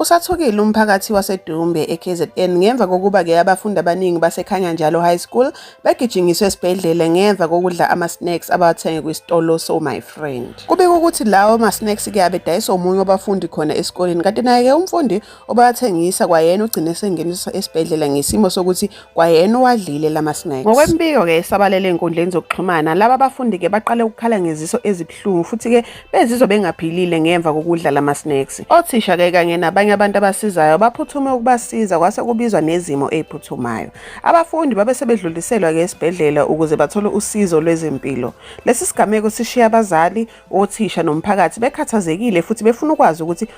Usathukile umphakathi waseDumbe eKZN ngemva kokuba ke abafundi abaningi baseKhanya Njalo High School begijinyiswe esibhedlela ngemva kokudla ama-snacks abawathenge kwisitolo so my friend. Kubika ukuthi lawo ma-snacks ke abedayiswa omunye wabafundi khona esikoleni kanti naye ke umfundi obawathengisa kwayena ugcine sengeniswa esibhedlela ngesimo sokuthi kwayena owadlile lama snacks ngokwembiko ke esabalele enkundleni zokuxhumana laba bafundi ke baqale ukukhala ngeziso ezibuhlungu futhi ke bezizwa bengaphilile ngemva kokudla lama snacks othisha ke kanye nabanye abantu abasizayo baphuthume ukubasiza kwase kubizwa nezimo eziphuthumayo abafundi babe sebedluliselwa ke esibhedlela ukuze bathole usizo lwezempilo lesi sigameko sishiya abazali othisha nomphakathi bekhathazekile futhi befuna ukwazi ukuthi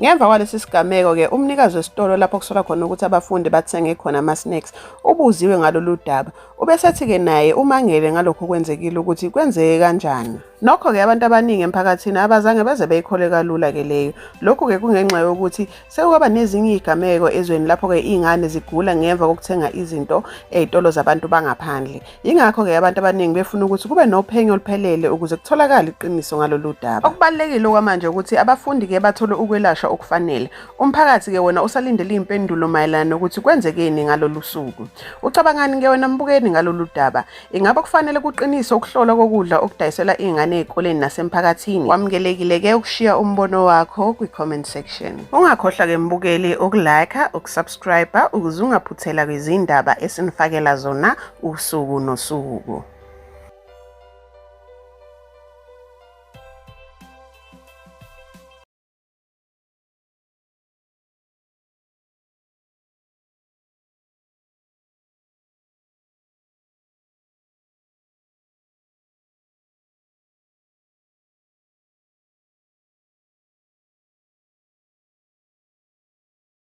Ngemva kwalesi sigameko-ke umnikazi wesitolo lapho kusolwa khona ukuthi abafundi bathenge khona ama-snacks ubuziwe ngalolu daba. Ubesethi-ke naye umangele ngalokhu kwenzekile ukuthi kwenzeke kanjani. Nokho-ke abantu abaningi emphakathini abazange beze beyikholwe kalula-ke leyo. Lokhu-ke kungenxa yokuthi sekukwaba nezinye iy'gameko ezweni lapho-ke iy'ngane zigula ngemva kokuthenga izinto ey'tolo zabantu bangaphandle. Yingakho-ke abantu abaningi befuna ukuthi kube nophenyo oluphelele ukuze kutholakale iqiniso ngalolu daba. Okubalulekile okwamanje ukuthi abafundi-ke bathole ukwelashwa okufanele. Umphakathi-ke wona usalindele iy'mpendulo mayelana nokuthi kwenzekeni ngalolu suku. Ucabangani-ke wena mbukeni ngalolu daba? Ingabe kufanele kuqinise ukuhlolwa kokudla okudayiselwa iy'ngane ey'koleni nasemphakathini? Wamukelekile-ke ukushiya umbono wakho kwi-comment section. Ungakhohlwa-ke mbukeli ukulike, ukusubscribe subscribe ukuze ungaphuthela kwizindaba esinifakela zona usuku nosuku.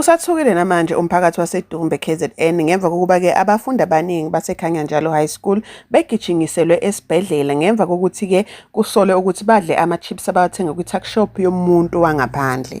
Usathukile namanje umphakathi waseDumbe KZN ngemva kokuba ke abafundi abaningi baseKhanya Njalo High School begijingiselwe esibhedlela ngemva kokuthi ke kusolwe ukuthi badle ama-chips abawathenga kwi-tuck shop yomuntu wangaphandle.